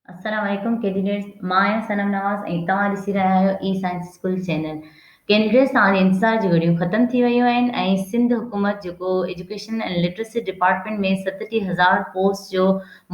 السلام عليڪم ڪينڊيڊيٽس مان آهيان صنم نواز ۽ توهان ڏسي رهيا آهيو اي سائنس اسڪول چينل ڪينڊيڊيٽس توهان جي انتظار جون گهڙيون ختم ٿي ويون آهن ۽ سنڌ حڪومت جيڪو ايجوڪيشن ۽ لٽرسي ڊپارٽمينٽ ۾ ستٽيهه هزار پوسٽ جو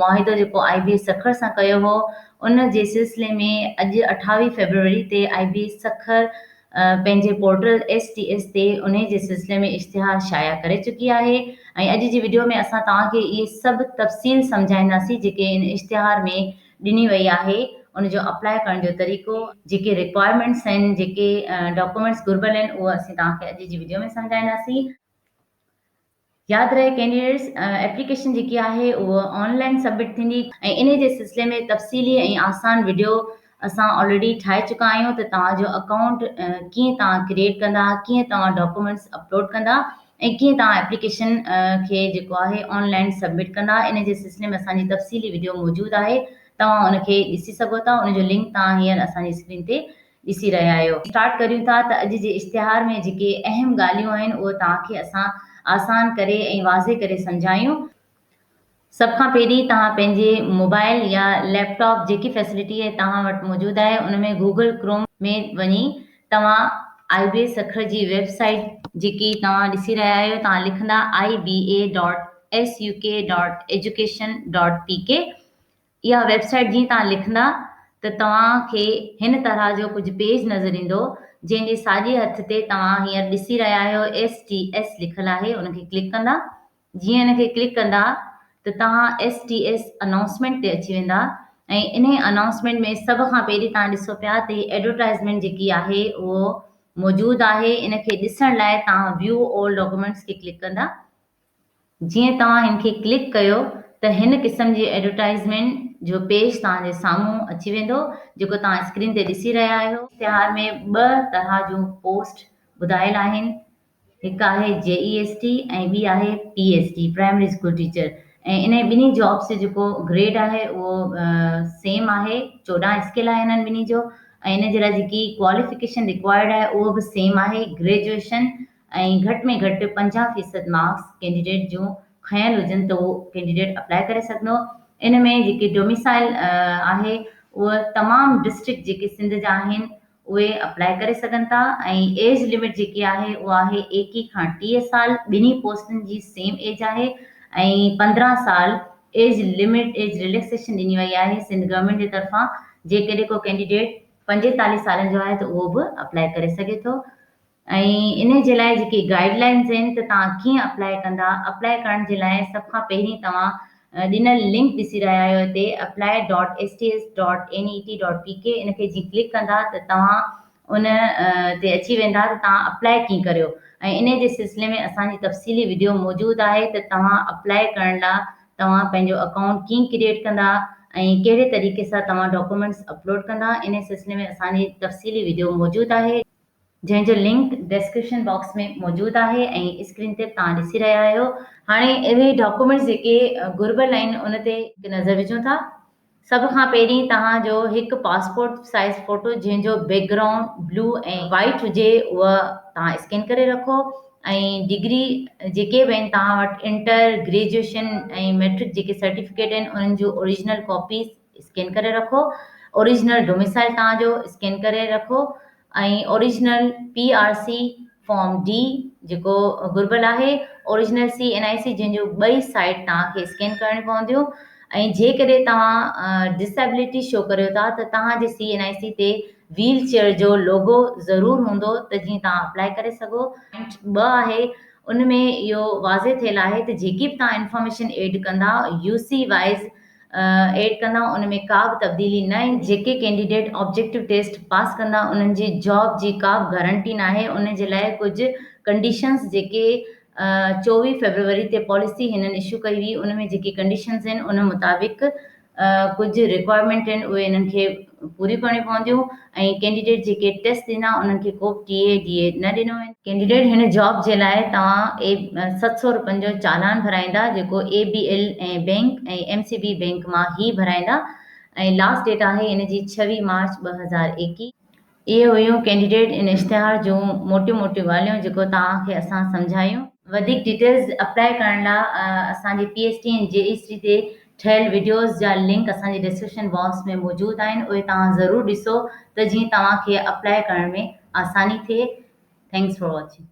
معاهدو جيڪو آئي بي ايس سکر سان ڪيو هو ان جي سلسلي ۾ اڄ اٺاويهه فيبروري تي آئي بي ايس سکر پنهنجي پورٽل ايس ٽي ايس تي انهي جي سلسلي ۾ اشتهار شايع ڪري چڪي آهي ۽ اڄ جي وڊيو ۾ اسان توهان کي اهي سڀ تفصيل سمجهائينداسين جيڪي ان اشتهار ۾ ڏني وئي آهي ان جو اپلاء ڪرڻ جو طريقو، جيڪي رڪوائرمينٽس آهن، جيڪي ڊاڪومينٽس گهربل آهن اهو اسين توهان کي اڄ جي وڊيو ۾ سمجهائينداسين. ياد رهي ڪينڊيڊيٽس ايپليڪيشن جيڪي آهي اهو آن لائن سبمٽ ٿيندي. ۽ انهي جي سلسلي ۾ تفصيلي ۽ آسان وڊيو اسان آلريڊي ٺاهي چڪا آهيون ته توهان جو اڪائونٽ ڪيئن توهان ڪريئيٽ ڪندا ڪيئن توهان ڊاڪومينٽس اپلوڊ ڪندا ۽ ڪيئن توهان ايپليڪيشن کي جيڪو آهي آن لائن سبمٽ ڪندا انهي جي سلسلي ۾ اسان جي تفصيلي وڊيو موجود آهي توهان ان کي ڏسي سگهو ٿا ان جو لنڪ توهان هينئر اسان جي اسڪرين تي ڏسي رهيا آهيو. اسٽارٽ ڪريون ٿا ته اڄ جي اشتهار ۾ جيڪي اهم ڳالهيون آهن اهي توهان کي اسان آسان ڪري ۽ واضح ڪري سمجهايون. سڀ کان پهرين توهان پنهنجي موبائل يا ليپ ٽاپ جيڪي فيسلٽي توهان وٽ موجود آهي ان ۾ گوگل ڪروم ۾ وڃي توهان آئي بي اي سکر جي ويب سائيٽ، جيڪي توهان ڏسي رهيا آهيو، توهان لکندا I B A dot S U K dot education dot P K اها ويب سائيٽ جيئن توهان لکندا ته توهان کي هن طرح جو ڪجهه پيج نظر ايندو جنهن جي ساڄي هٿ تي توهان هينئر ڏسي رهيا آهيو STS لکيل آهي ان کي ڪلڪ ڪندا جيئن ان کي ڪلڪ ڪندا ته توهان STS انائونسمينٽ تي اچي ويندا ۽ انهي انائونسمينٽ ۾ سڀ کان پهرين توهان ڏسو پيا ته هي ايڊورٽائزمينٽ جيڪي آهي اهو موجود آهي ان کي ڏسڻ لاء توهان View All Documents کي ڪلڪ ڪندا جيئن توهان هن کي ڪلڪ ڪيو ته هن قسم جي ايڊورٽائيزمينٽ جو پيج توهان جي سامهون اچي ويندو جيڪو توهان اسڪرين تي ڏسي رهيا آهيو. اشتهار ۾ ٻه طرح جون پوسٽ ٻڌايل آهن هڪ آهي JEST ۽ ٻي آهي PST Primary School Teacher ۽ انهي ٻنهي جابس جو جيڪو گريڊ آهي اهو سيم آهي چوڏهن اسڪيل آهي انهن ٻنهي جو ۽ ان جي لاء جيڪي ڪواليفڪيشن ريڪوائرڊ آهي اهو به سيم آهي گريجوئيشن ۽ گهٽ ۾ گهٽ پنجاهه فيصد مارڪس ڪينڊيڊيٽ جون کنيل هجن ته اهو ڪينڊيڊيٽ اپلائي ڪري سگهندو. ان ۾ جيڪي ڊوميسائيل آهي اهو تمام ڊسٽرڪٽ جيڪي سنڌ جا آهن اهي اپلائي ڪري سگهن ٿا ۽ ايج لمٽ جيڪي آهي اهو آهي ايڪيهه کان ٽيهه سال ٻنهي پوسٽن جي سيم ايج آهي ۽ پندرهن سال ايج لمٽ ايج رليڪسيشن ڏني وئي آهي سنڌ گورنمينٽ جي طرفان جيڪڏهن ڪو ڪينڊيڊيٽ پنجيتاليهه سالن جو آهي ته اهو به اپلائي ڪري سگهي ٿو ۽ انهي جي لاء جيڪي گائيڊ لائنز آهن ته توهان ڪيئن اپلائي ڪندا اپلائي ڪرڻ جي لاء سڀ کان پهرين توهان ڏنل لنڪ ڏسي رهيا آهيو هتي apply dot S T S dot N E T dot P K ان کي جيئن ڪلڪ ڪندا ته توهان ان تي اچي ويندا ته توهان اپلائي ڪيئن ڪريو ۽ انهي جي سلسلي ۾ اسان جي تفصيلي وڊيو موجود آهي ته توهان اپلائي ڪرڻ لا توهان پنهنجو اڪائونٽ ڪيئن ڪريئيٽ ڪندا ۽ ڪهڙي طريقي سان توهان ڊاڪومينٽس اپلوڊ ڪندا انهي سلسلي ۾ اسان جي تفصيلي وڊيو موجود آهي. جنهن جو لنڪ ڊسڪرپشن باڪس ۾ موجود آهي ۽ اسڪرين تي به توهان ڏسي رهيا آهيو. هاڻي اهي ڊاڪيومينٽس جيڪي گهربل آهن ان تي هڪ نظر وجهون ٿا. سڀ کان پهرين توهان جو هڪ پاسپورٽ سائيز فوٽو جنهن جو بيڪ گرائونڊ بلو ۽ وائيٽ هجي اها توهان اسڪين ڪري رکو ۽ ڊگري جيڪي به آهن توهان وٽ انٽر، گريجوئيشن ۽ مئٽرڪ جيڪي سرٽيفڪيٽ آهن انهن جون اوريجنل ڪاپيز اسڪين ڪري رکو اوريجنل ڊوميسائل توهان جو اسڪين ڪري رکو ۽ original P R C form D جيڪو گهربل آهي original C N I C جن جو ٻئي سائيڊ توهان کي اسڪين ڪرڻي پونديون ۽ جيڪڏهن توهان ڊسيبليٽي شو ڪريو ٿا ته توهان جي سي اين آئي سي تي ويل چيئر جو لوگو ضرور هوندو ته جيئن توهان اپلائي ڪري سگهو. پوائنٽ ٻه آهي ان ۾ اهو واضح ٿيل آهي ته جيڪي به توهان انفارميشن ايڊ ڪندا يو سي وائيز ايڊ ڪندا ان ۾ ڪا به تبديلي نه ايندي. جيڪي ڪينڊيڊيٽ آبجيڪٽو ٽيسٽ پاس ڪندا انهن جي جاب جي ڪا به گارنٽي ناهي ان جي لاء ڪجهه ڪنڊيشنز جيڪي چوويهه فيبروري تي پاليسي هنن اشو ڪئي هئي ان ۾ جيڪي ڪنڊيشنز آهن ان مطابق ڪجهه رڪوائرمينٽ آهن اهي انهن کي پوريون ڪرڻيون پونديون. ۽ ڪينڊيڊيٽ جيڪي ٽيسٽ ڏنا انهن کي ڪوبه ٽي اي ڊي اي نه ڏنو ويندو. ڪينڊيڊيٽ هن جاب جي لاء توهان ست سؤ رپين جو چالان ڀرائيندا جيڪو A B L ۽ bank ۽ M C B bank مان هي ڀرائيندا ۽ لاس ڊيٽ آهي ان جي ڇويهه مارچ ٻه هزار ايڪيهه. اهي هيون ڪينڊيڊيٽ ان اشتهار جون موٽيون موٽيون ڳالهيون جيڪو توهان کي اسان سمجهايون. وڌيڪ ڊيٽيلز اپلائي ڪرڻ لاء اسان جي P S T N G E C تي ٺهيل وڊيوز جا لنڪ اسان جي ڊسڪرپشن باڪس ۾ موجود آهن اهي توهان ضرور ڏسو ته جيئن توهان کي اپلائي ڪرڻ ۾ آساني ٿئي ٿينڪس فار واچنگ.